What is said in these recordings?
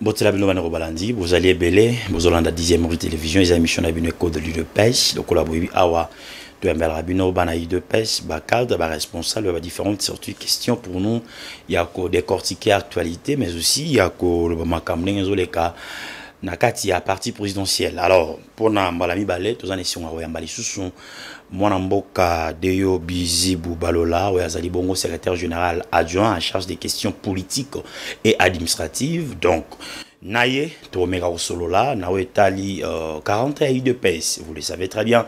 botela bino bandeko balandi bozali ebele bozolanda 10e rue télévision eza émission na bino ecole de l'udps lokola boyebi awa toyambelaka bino bana udps bacadre baresponsable ya badifférentes surtout question pour nous ya kodécortiquer actualité mais aussi ya koloba makambo ndenge ezoleka na kati ya parti présidentiel alors mpona mbala mibale toza na esengo ya koyamba lisusu mwana mboka deyo bizibu balola oyo azali bongo secrétaire général adjoint en charge des questions politiques et administratives donc na ye tokomeka kosolola na oyo etali 40 ya udps vous le savez très bien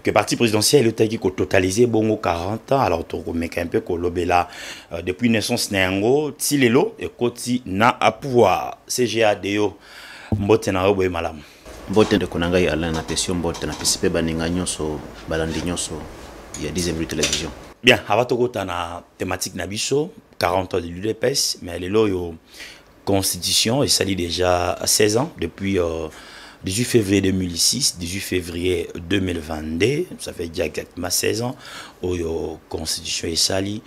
que parti présidentiel eutaki kototalize bongo 40 ans alors tokomeka mpe kolobela euh, depuis naissance na yango ti lelo ekoti na pouvoir cga deyo mbote na yo boye malamu mbote ndeko na ngai alain napesi yo mbote napesi mpe baninga nyonso balandi nyonso ya 10 minute television bien ava tokota na thématique na biso 40 ans de l'udps mais lelo oyo constitution esali déjà 16 ans depuis euh, 18 février 2006, 18 février 2022, ça fait déjà exactement 16 ans, où la constitution est salie.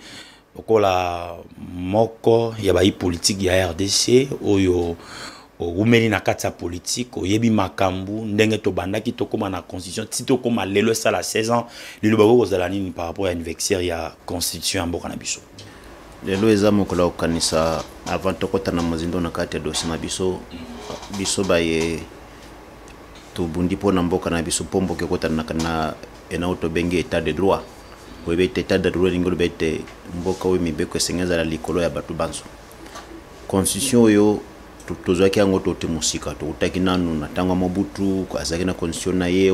lokola moko ya bayi politiki ya rdc oyo owumeli na kati ya politiki oyebi makambo ndenge tobandaki tokóma na constitution ti tokóma lelo esala 16 ans liloba okoki kozala nini par rapport ya anniversaire ya constitution ya mboka na biso lelo eza mokolo ya kokanisa avant tokota na mozindo na kati ya dossier na biso biso baye tobundi mpo na mboka na biso mpo mboka ekota na enao tobengi état de droit oyebi ete etat de droit elingi oloba ete mboka oyo mibeko esenge ezala likolo ya bato banso constitution oyo tozwaki yango toti mosika toutaki nanu na ntango ya mobutu azalaki na constitution na ye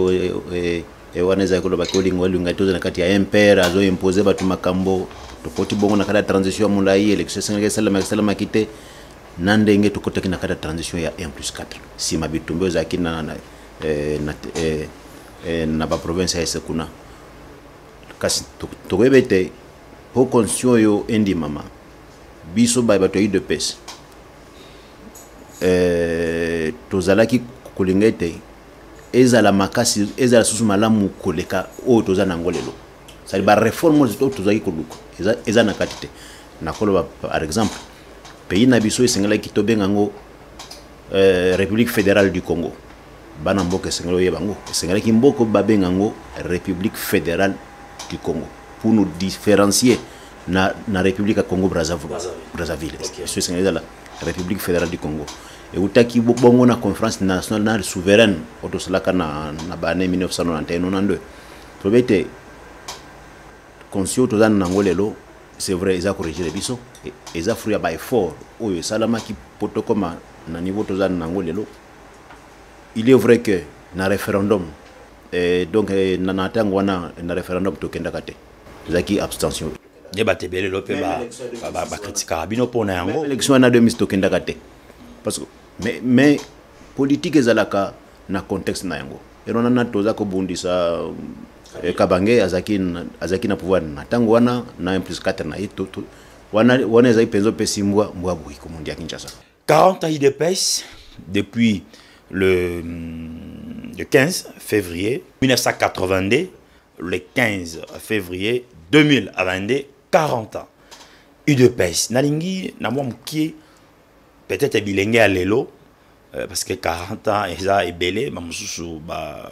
e, e, wana ezalaki koloba ke olinga olinga te oza na kati ya impere azoimpose bato makambo tokoti bongo na kati ya transition ya molai election esengelaki esalamaki esalamaki te na ndenge tokotaki na kati ya transition ya 1 plus 4 nsima bitumba ezalaki na, na, eh, na, eh, eh, na baprovince ya ese kuna kasi tokoyeba ete po constitution oyo endimama biso baye bato ya udps eh, tozalaki kolinga ete ezala makasi ezala susu malamu koleka oyo toza na yango lelo sali bareforme oyo tozalaki koluka eza, eza na kati te nakoloba par exemple pays na biso esengelaki tobenga yango euh, république fédérale du congo bana mboka esengeli oyeba yango esengelaki mboko babenga yango république fédérale du congo pour nous différencier na, na république ya congo brazzaville biso esengeli ezala république fédérale du congo eutaki bongo na conférence nationale souveraine oyo tosalaka na, na baannée 1991 tolobi ete conscio toza na yango lelo c'est vrai eza corrigere biso eza fruit ya baeffort oyo esalamaki mpo tokoma na niveau toza na yango lelo il est vrai que na referendum eh, donc eh, na na tango wana na referendum tokendaka te ezalaki abstention nde bato ebele lo mpe bakritikaka bino mpo na yango élection wana 2000 tokendaka te parce que mais, mais politique ezalaka na contexte na yango elona na toza kobundisa eh, kabange azalaki azalaki na pouvoir na ntango wana na 1 plus 4 na ye wana ezalaki mpenza mpe simbwa mbwa boyi komundi ya kinshasa 40 ans idps depuis le, mm, le 15 février 1982 le 15 février 2022 40 ans udps nalingi na mwa mokie peut-être bilenge ya lelo euh, parce que 40 ans eza ebele bamosusu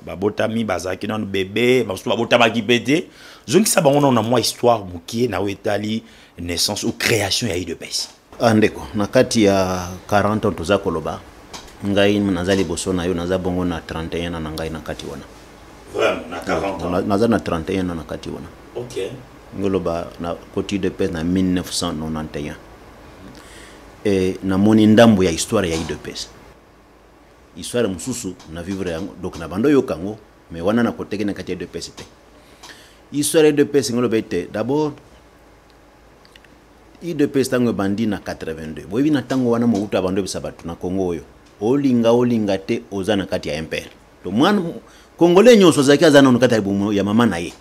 babotami ba bazalaki nano bebe bamosusu babotamaki mpe te zongisa bango nano na mwa histoire mokie na oyo etali naissance ou création ya udps Ah, ndeko na kati ya 40 ans toza koloba ngai naza liboso na yo naza bongo na 31 na ngai na kati wana naza na 31 na na kati wana ngoloba na koti de pes na 1991 e namoni ndambo ya histoire ya idps histoire mosusu na vivre yango donc na bando oyoka yango me wana nakoteki na kati ya idps te histoire ya idps ngoloba ete d'abord udps ntango ebandi na 82 boyebi na ntango wana mobutu abandi oyebisa bato na kongo oyo olinga olinga te oza na kati ya mpr to mwana kongole nyonso azalaki aza nano kati ya libumu ya mama na ye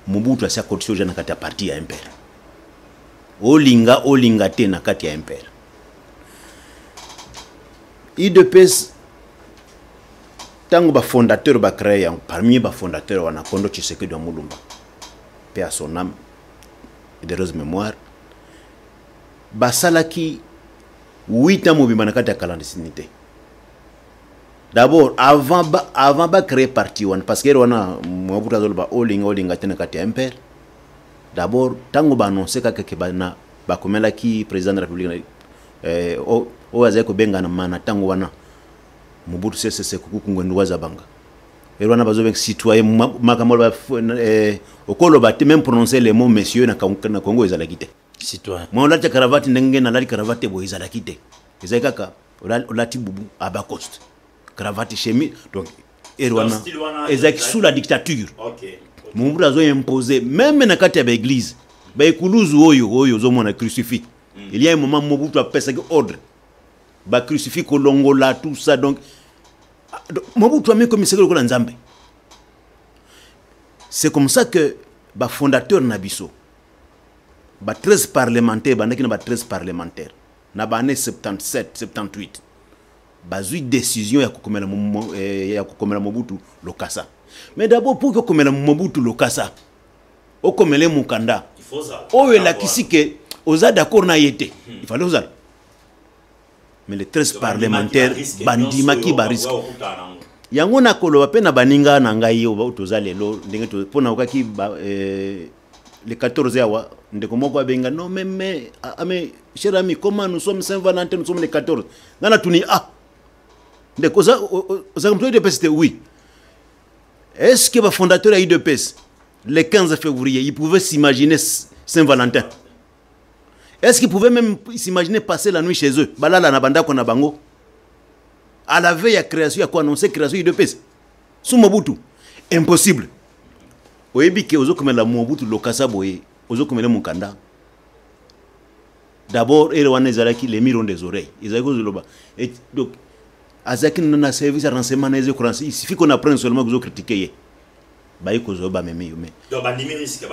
mobutu asi akotisi oja na kati ya parti ya mpr olinga olinga te na kati ya mpr udps ntango bafondateur bacreye yango parmi bafondateur wana kondo tshisekedi ya molumba mpe asoname Derose Memoire basalaki 8 ans mobimba na kati ya clandestine te d'abord avant ba, avant ba créer parti wana parce que wana mwabuta azoloba olinga olinga te na kati ya mpr d'abord ntango baannonce kaka ke bana bakomelaki président de la république eh, oyo azali kobengana mana ntango wana mobutu sesese kuku kungwendu wazabanga lelo wana bazobenga citoyen makambo aloba eh, okoloba te même prononcer le mot monsieur na congo ezalaki te citoyen mwa olati caravate ndenge nalali caravate te boye ezalaki te ezali kaka olati bubu abacoste caravate chemise donc ere wana ezalaki sous la dictature mobutu azoimpose meme na kati ya baeglise baekuluzu oyo oyo ozomona crucifix hmm. il y a un moment mobutu apesaki ordre bacrucifix kolongola tout ça donc Ah, Mobutu amikomisaki lokola Nzambe. C'est comme ça que ba fondateur na biso ba 13 parlementaires bandaki na ba 13 parlementaires na ba année 77 78 bazui décision ya kokomela eh, ya kokomela Mobutu Lokasa. Mais d'abord pour que kokomela Mobutu Lokasa okomele mukanda oyo elakisi ke oza d'accord na ye te hmm. ifale ozala mais les 13 parlementaires bandimaki bariske yango nakoloba mpe na baninga na ngai oyo toza lelo ndenge mpo naokaki eh, le 14 awa ndeko moko abenga non mais mais ah, ah, mais cher ami comment nous sommes saint valentin nous sommes le 14 nga natuni ah ndeko ozaka moto ya udps te oui est ce que bafondateur ya udps le 15 février il pouvait s'imaginer saint valentin Est-ce qu'ils pouvaient même s'imaginer passer la nuit chez eux Balala na bandako na bango. À la veille à création, à quoi annoncer création IDPS Sous Mobutu. Impossible. Oyebi ke ozo komela Mobutu lokasa boye, ozo komela mukanda. D'abord, ere wana ezalaki les mirons des oreilles. Ezalaki kozoloba. Et donc azalaki na service ya renseignement na ezo il suffit qu'on apprenne seulement que ozo critiquer ye. baye kozwa yo bamemi yo mebandimi risque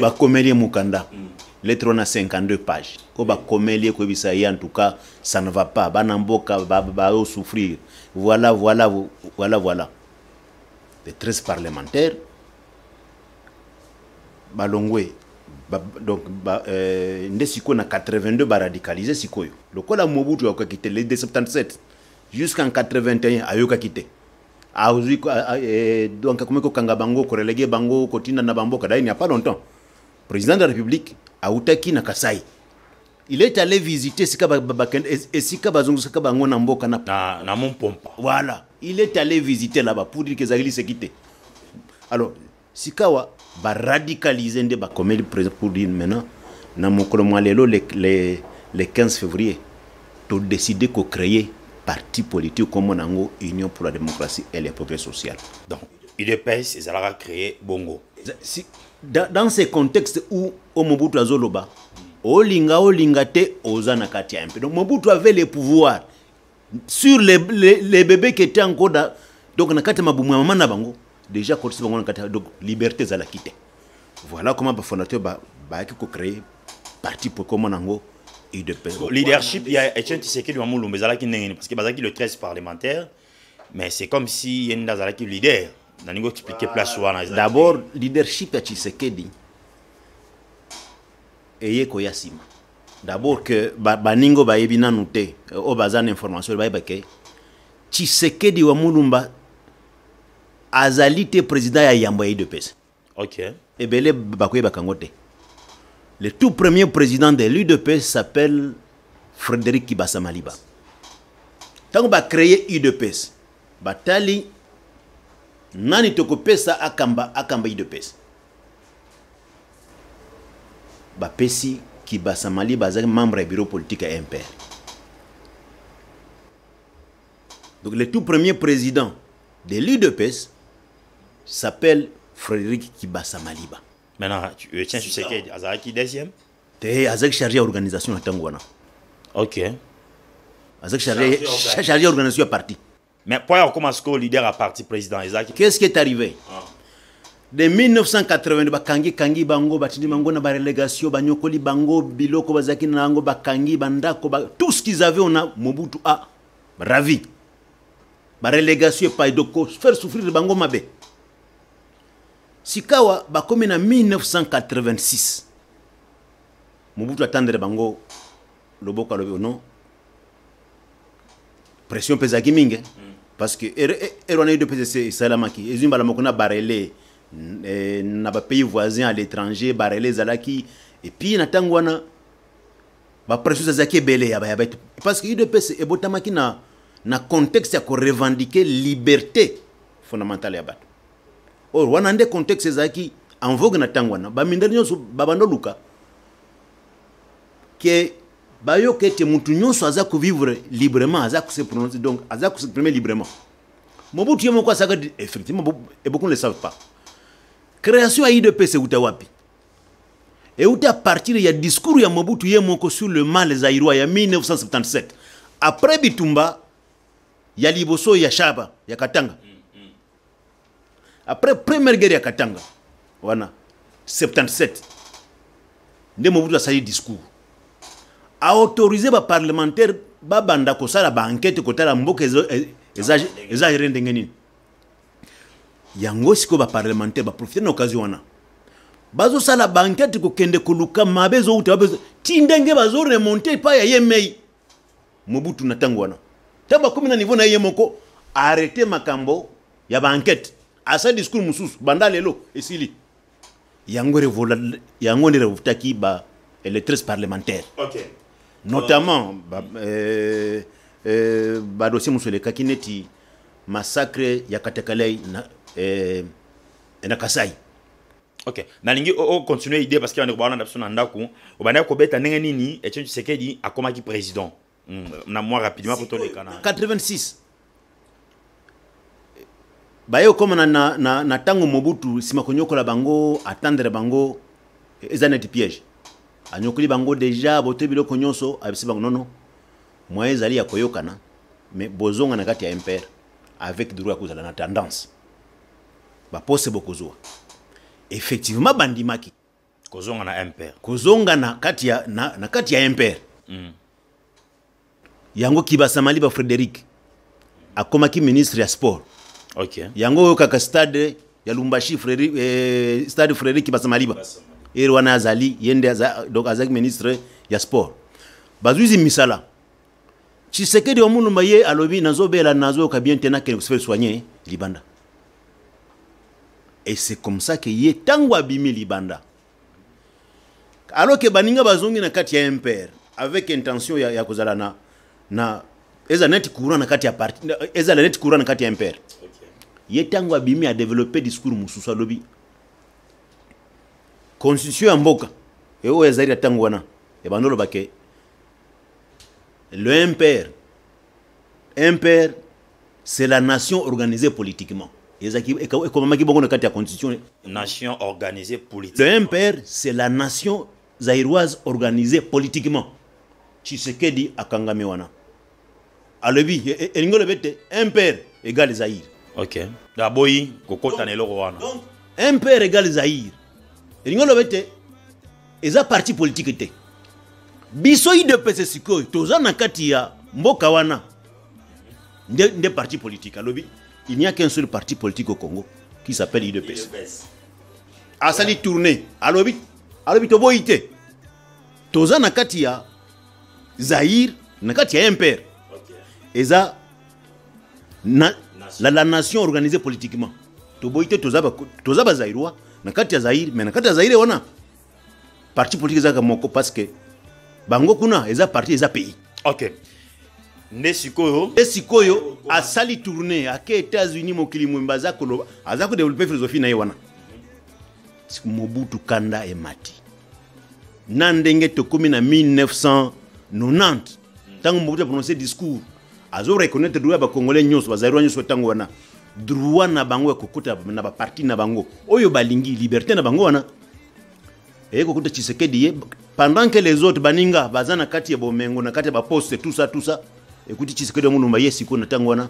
bakomeli ye mokanda mm. lettre wana 52 page oyo bakomeli ye koyebisa ye en tout cas ça ne va pas bana mboka baosouffrir voilà voilà voilà voilà les 13 parlementaires balongwe ba, donc ba, euh, nde sikoyo na 82 baradicalise sikoyo lokola mobutu ayokaki te le 277 jusqu'en 81 ayokaki te azwi eh, donc akomi kokanga bango korelege bango kotinda na bamboka dai n'y a pas longtemps président de la république autaki na kasai il est allé visiter esika esika bazongisaka bango na mboka na na mompompa voilà il est allé visiter là-bas pour dire que ezalaki liseki te alors Sikawa ba radicaliser nde bakomeli president pour dire maintenant na mokolo mwa lelo le, le, le 15 février to décider ko créer parti politique comme na yango Union pour la démocratie et le progrès social. Donc UDPS ezalaka créer bongo. Si, dans, dans ce contexte où Omobutu azoloba olinga olinga te oza na kati ya MP. Donc Mobutu avait le pouvoir sur les, les, les bébés qui étaient encore dans, donc na kati ya mabumu ya mama na bango déjà akotisi bango na kati donc liberté ezalaki te voilà comment bafondateur bayaki ba kocree parti po ekoma nango leadership ya etienne tisekedi wa mulumba ezalaki ndenge nini parce que bazalaki le 13 parlementaire mais c'est comme si ye nde azalaki leader nalingi koexplike place wana d'abord leadership ya tshisekedi eye koya nsima D'abord que baninga oyo bayebi nanu te euh, oyo baza na information bayeba ke tshisekedi wa mulumba azali te président ya yambo ya udps okay. ebele bakoyebaka yango te le tout premier président de l'udps s'appelle frédéric kibasa maliba ntango bacreye udps batali nani tokopesa akamba akamba udps bapesi kibasa maliba azalaki membre ya bureau politique ya mpr donc le tout premier président de l'udps s'appelle frédéric kibasa maliba maintenant euh, tiens tshisekedi azalaki deuxième te azalaki chargé ya organisation na ntango wana ok azalaki chargé ya organisation ya parti mais mpo ya kokoma sikoyo leader ya parti président ezalaki qu'est ce qui est arrivé ah. de 1980 bakangi kangi bango batindi bango na barelegation banyokoli bango biloko bazalaki na yango bakangi bandako ba, tout ce qu'ils avaient ona mobutu a ravi barelegation epai doko faire souffrir bango mabe sikawa bakomi na 1986 mobutu atandele bango loboko alobi oh non pression mpe ezalaki mingi mm. parce que ere er, er, wana edo mpe esalamaki ezwi mbala moko na barele eh, na bapays voisin à l'étranger barele ezalaki epuis na ntango wana bapression ezalaki ebele ya bayabato parce que udps ebotamaki na, na contexte ya korevendiquer liberté fondamentale ya bato oyo wana nde contexte ezalaki en vogue na ntango wana bamindali nyonso babanda oluka ke bayoka ete motu nyonso aza kovivre librement aza kose prononce donc aza koseprime librement mobutu ye moko asaka effectivement et beaucoup ne savent pas création ya idps euta wapi euta à partir ya discours ya mobutu ye moko sur le mal zairois ya 1977 après bitumba ya liboso ya shaba ya katanga mm. après première guerre ya katanga wana 77 nde mobutu asali discours aautorise baparlementaire babanda kosala baankete kotala mboka eza gere ndenge nini yango sikoyo baparlementaire baprofite na occasion wana bazosala baankete kokende koluka mabe ezowuta ti ndenge bazoremonte epai ya ye mei Mobutu na tango wana. Tango bakomi na niveau na ye moko, arrete makambo ya ba enquête. Asa discours mosusu, banda lelo, esili. Yango revola, yango ne revotaki ba electeurs parlementaires. Ok. Notamment, uh, ba, euh, euh, ba dossier mosusu elekaki neti massacre ya Katakalei na, euh, na Kasai. ok nalingi ocontinue idée parce que bandeko baolanda biso na ndako obandaki kobeta ndenge nini etienne tshisekedi akomaki président hmm, na mwa rapidement po toleka na 86 baye okoma na, na, na, na ntango mobutu nsima konyokola bango atandre bango eza neti piège anyokoli bango deja botoyi biloko nyonso abisi bango nono moyen ezali ya koyokana mais bozonga na kati ya mpr avec droit ya kozala na tendance bapose bokozwa effectivement bandimaki kozonga na mpr kozonga na kati ya, na, na kati ya mpr mm. yango kibasamali ba frédéric akomaki ministre ya sport okay. yango oyokaka stade ya lumbashi freri, eh, stade frédéric kibasamaliba ere wana azali ye nde donc azalaki ministre ya sport bazwisi misala tshisekedi wa mulumba ye alobi nazobela nazoyoka bien te nakende kosefele soigne libanda et c'est comme ça que ye ntango abimi libanda alors que baninga bazongi na kati ya mpr avec intention ya, ya kozala na, na ezala neti courant na kati ya parti ezala neti courant na kati ya mpr ye ntango abimi adeveloppe discours mosusu alobi constitution ya mboka e oyo ezali na ntango wana ebandolobake Le MPR, MPR, c'est la nation organisée politiquement. ekomamaki bongo na kati ya constitution nation organisée politiquement le mpr c'est la nation zaïroise organisée politiquement tshisekedi akangami wana alobi e, e, elingi olobi ete impere egale zaire ok aboyi kokota na eloko wana impere egale zaire elingi olobi ete eza parti politike te biso idepese sikoyo toza na kati ya mboka wana nde, nde parti politique alobi il n'y a qu'un seul parti politique au congo qui s'appelle idepese asali tourne alobi alobi toboyi te toza na kati ya zaïre na kati ya mpr eza na, la, la nation organisée politiquement toboyi te toza bazairois na kati ya zaïre mais na kati ya zaïre wana parti politique ezalaka moko parce que bango kuna eza parti eza pays ok nde sikoyo nde sikoyo asali tourne ake états-unis mokili mwemba aza koloba aza kodevelope philosophie na ye wana mobutu kanda emati na ndenge tokomi na 1990 ntango mobutu aprononce discours azo reconnaître droit ya bacongolais nyonso bazalirwa nyonso ntango wana droit na bango ya kokota na baparti na bango oyo balingi liberté na bango wana eye kokuta tshisekedi ye pendant que les autres baninga baza na kati ya bomengo na kati ya baposte tout ça tout ça ekuti tshisekedi ya mulumba ye sikoyo na ntango wana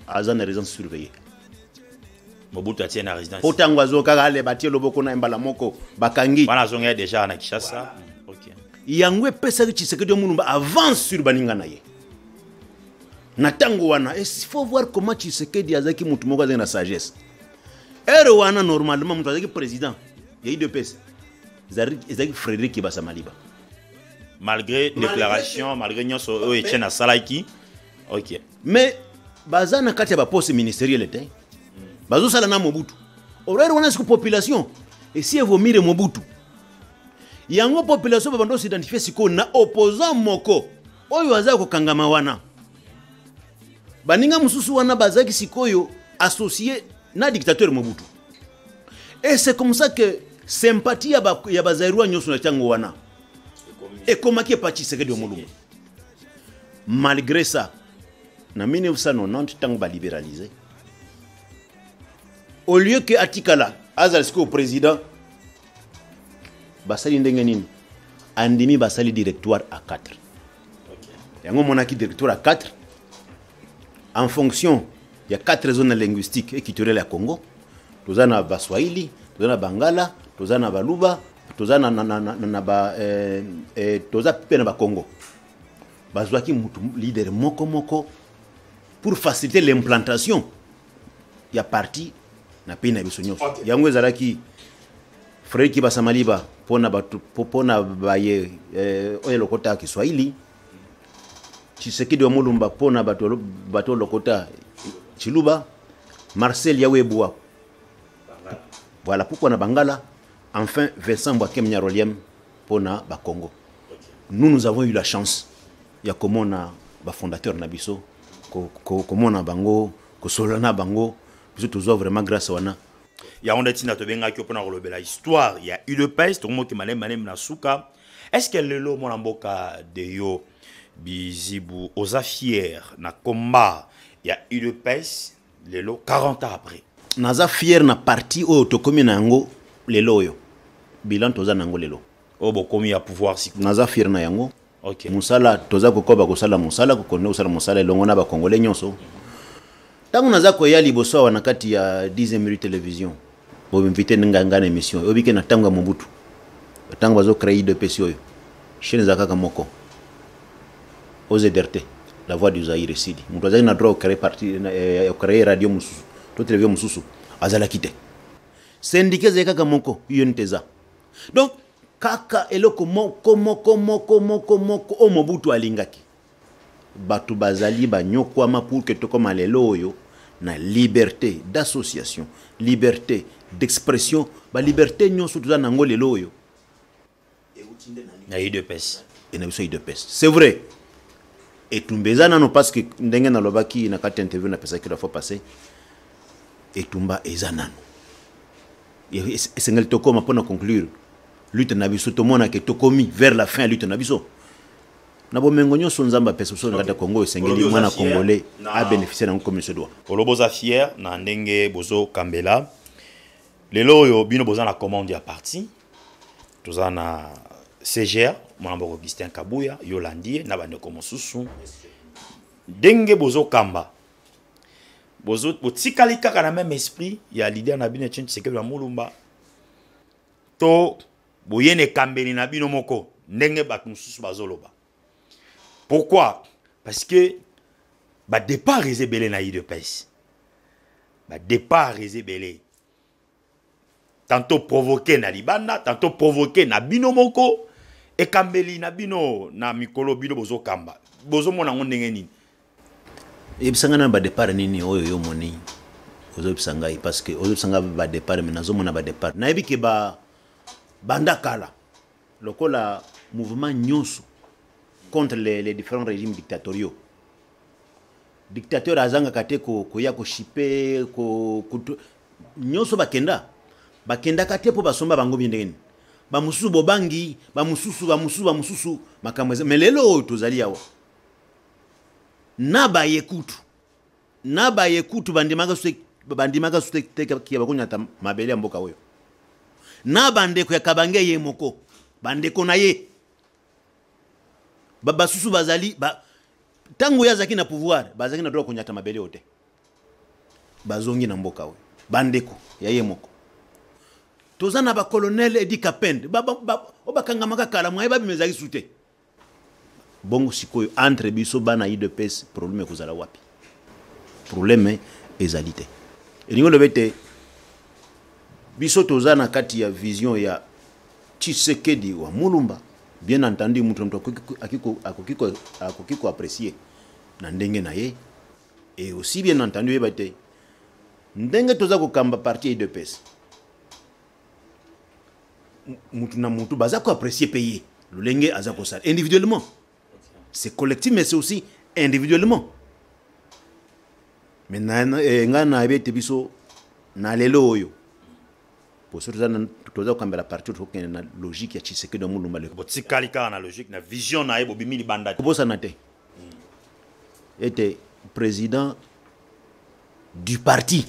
aza na résidence surveillée mobutu atie na résidence po ntango azo kaka aleba atie loboko na ye mbala moko bakangi wana azongaki deja na kinshasa okay. yango epesaki tshisekedi omulumba avance sur baninga na ye na ntango wana il faut voir comment tshisekedi azalaki motu moko azalaki na sagesse heure wana normalement moto azalaki président ya idps ezalaki frédéric kibasa maliba malgré déclaration malgré nyonso oyo etienne asalaki ok mais baza na kati ya baposte ministeriele te bazosala na mobutu orere wana siko population esi evomire mobutu yango population babanda osidentifie sikoyo na opposant moko oyo aza kokangama wana baninga mosusu wana bazalaki sikoyo associe na dictateur mobutu et c'est comme ça que sympathie ya bazairwa nyonso na ntango wana ekomaki epa tshisekedi ya molumbu malgré ça na 1990 ntango baliberalize au lieu ke atikala azala sikoyo président basali ndenge nini andimi basali directoire à 4 yango omonaki directoire à 4 en fonction ya quatre zones linguistique et culturelle ya congo toza na baswahili toza na bangala toza na baluba toza na, na, na, na, na ba, eh, eh, toza mpe na bakongo bazwaki motu leader moko moko pour faciliter l'implantation ya parti na pays na biso nyonso okay. yango ezalaki fredi kibasa maliba mpo na baye eh, oyo elokota kiswahili tshisekedi wa mulumba mpo na bato lokota tshiluba marcel yawebua voilà pourquoi na bangala enfin vincent bwakem nyaroliem mpo na bakongo nous nous avons eu la chance ya komona bafondateur na biso komona bango kosolola na bango biso tozwa vraiment grâce wana yango nde ntina tobengaki yo mpo na kolobela histoire ya udps tokomoki malembe malembe na suka Est ce que lelo mwana mboka de yo bizibu oza fier na combat ya udps lelo 40 ans après naza fier na parti oyo tokomi na yango lelo oyo bilan toza na yango lelo oyo bokomi ya pouvoir siko naza fier na yango okay. mosala toza kokoba kosala mosala kokende kosala mosala elongo na bakongole nyonso ntango naza koya liboso awa na kati ya 10 minute television boinvite ngai ngai na émission oyebi ke na ntango ya mobutu ntango bazo créer idps oyo chaine eza kaka moko ozederte la voix du zaire esili moto azalaki na droit ocree parti eh, ocree radio mosusu to televizio mosusu azalaki te sendika ezali kaka moko unite eza donc kaka eloko moko moko moko moko moko oyo mobutu alingaki bato bazali banyokwama pour que tokoma lelo oyo na liberté d'association liberté d'expression baliberté nyonso toza na yango lelo oyo na udps e na biso udps c'est vrai etumba eza nano parce que ndenge nalobaki na kati ya interview napesaki la fois passé etumba eza nano esengeli tokoma mpo na conclure lutte na biso tomonake tokomi vers la fin ya lutte na biso na bomengo nyonso nzambe apesa biso na kati ya kongo esengeli mwana congolais abénéficie na yango comme se doit oloba oza fier na ndenge bozokambela lelo oyo bino boza na commande ya parti toza na cgr mwana moko augustin kabuya yolandi ye na bandeko mosusu ndenge bozokamba botikali kaka na même esprit ya leader na bino etienne tshisekedi ya mulumba to boye na ekambeli na bino moko ndenge bato mosusu bazoloba pourquoi parce que badépart eza ebele na udps badépart eza ebele tantôt provoqué na libanda tantôt provoqué na bino moko ekambeli na bino na mikolo bino bozokamba bozomona yango ndenge nini yebisa ngai na badepart nini oyo yo omoni ozobisa ngai parce que ozobisa ngai badepart me nazomona badepart nayebi ke ba banda kala lokola mouvement nyonso contre les, les différents régimes dictatoriaux dictateur azangaka te koya koshipe nyonso bakenda bakendaka te mpo basomba bango bie ndenge nini bamosusu bobangi bamosusu bamosusu bamosusu makambo eza me lelo oyo tozali awa na baye kutu na baye kutu bandimaka su bandimaka su te kia bakonyata mabele ya mboka oyo na bandeko ya kabange ye moko bandeko na ye basusu bazali ba, ntango ye azalaki na pouvoir bazalaki na droit konyata mabele oyo te bazongi na mboka oyo bandeko ya ye moko toza na bacolonel edi kapende oyo bakangamaka kala mwaye babima ezalaki su te Bongo sikoyo entre biso bana udps problème ekozala wapi? Problème ezali te. Elingi oloba ete biso toza na kati ya vision ya Tshisekedi wa Mulumba, bien entendu moto moto akoki koapprécier na ndenge na ye et aussi bien entendu oyeba te ndenge toza kokamba parti ya udps mutu na mutu baza ko apprécier pe ye lolenge aza kosala individuellement c'est collectif mais c'est aussi individuellement mais eh, ngai nayebi ete biso na lelo oyo poso toza kokambela parti oyo tokokende na logique ya tshisekedi ya molumba leko botikali kaka na logique na vision na ye bobimi libanda te kobosana te ete président du parti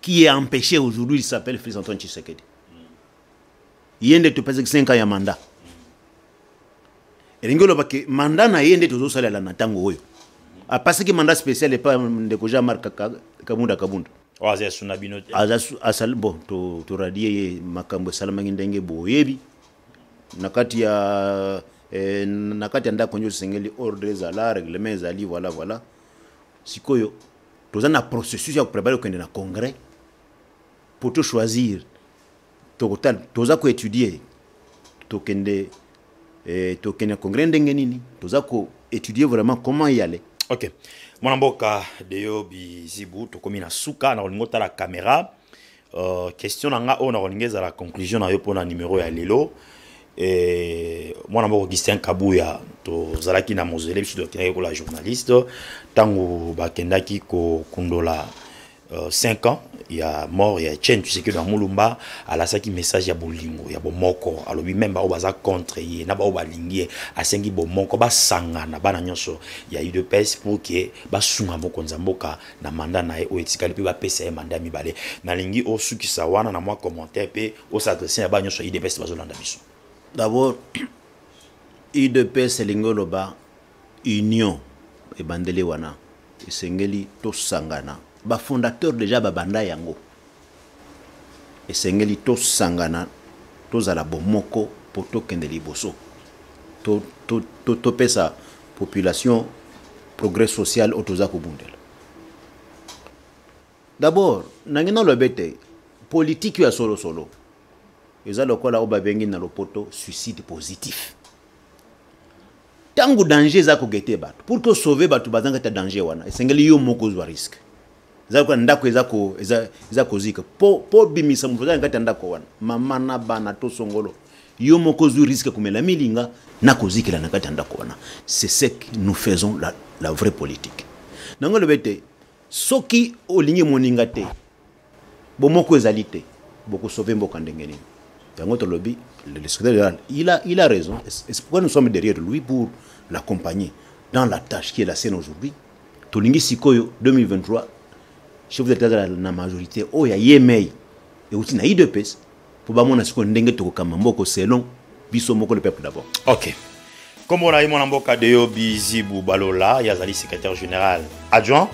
qui est empêché aujourd'hui, il s'appelle Fils Antoine Tshisekedi. Il y a des 5 ans ya mandat. Et l'ingolo parce que mandat na yende tozo sala la natango oyo. A passé que mandat spécial et pas de Koja Marc Kamunda Kabunda. Aza suna bino. Aza asal bon to to radier makambo salamaki ndenge boyebi. Na kati ya eh, na kati ya ndako nyo sengeli ordre ezala règlement ezali voilà voilà. sikoyo toza na processus ya koprepare kokende na congrès mpo tochoisir tokotala toza koétudie tokende eh, tokende na congrès ndenge nini toza koétudie vraiment comment y aller ok mwana mboka deyo bizibu tokomi na suka na kolingi otala kamera Uh, question na nga oyo nakolinga ezala conclusion na yo mpo na numero ya lelo e, mwana moko augustin kabuya tozalaki na mozele biso tokendaki kola journaliste ntango bakendaki kokundola 5 euh, ans ya mort ya chen tshisekedi na mulumba alasaki message ya bolingo ya bomoko alobi meme baoyo baza contre ye na baoyo balingi ye asengi bomoko basangana bana nyonso ya udps pour ke basunga mokonzi ya mboka na mandat na ye oyo etikali mpe bapesa ye mandat mibale nalingi osukisa wana na mwa commentaire mpe osadresse na ba nyonso ya idps bazolanda biso d'abord idps elingi oloba union ebandeli wana esengeli tosangana bafondateur deja babanda yango esengeli tosangana tozala bomoko mpo tokende liboso topesa population progrès social oyo toza kobundela dabord nange naloba ete politiki ya solosolo eza lokola oyo babengi na lopoto suicide positif ntango danger eza kogete bato pour tosauve bato bazanga ta danger wana esengeli yo moko ozwa risque eza lokola ndako eza ko eza eza kozika po po bimisa moto eza ngata ndako wana mama na bana to songolo yo moko zui risque komela milinga na kozikela na kati ndako wana c'est ce que nous faisons la, la vraie politique nango lobe te soki olingi moninga te bomoko ezali te bokosauve mboka ndenge nini yango tolobi le secrétaire général il a, il a raison c'est pourquoi nous sommes derrière lui pour l'accompagner dans la tâche qui est la scène aujourd'hui tolingi sikoyo 2023 chef d'etat azala na majorité oyo oh, ya yemei euti na idps mpo bamona sikoyo ndenge tokokamba mboko selon biso moko le peuple d'abord ok nkombo na ye mwana mboka deyo bizibu balola ye azali secrétaire général adjoint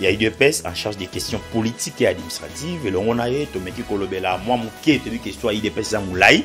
ya idps en charge des questions politiques et administratives elongo na ye tomeki kolobela mwa moke toyebi question ya idps eza molai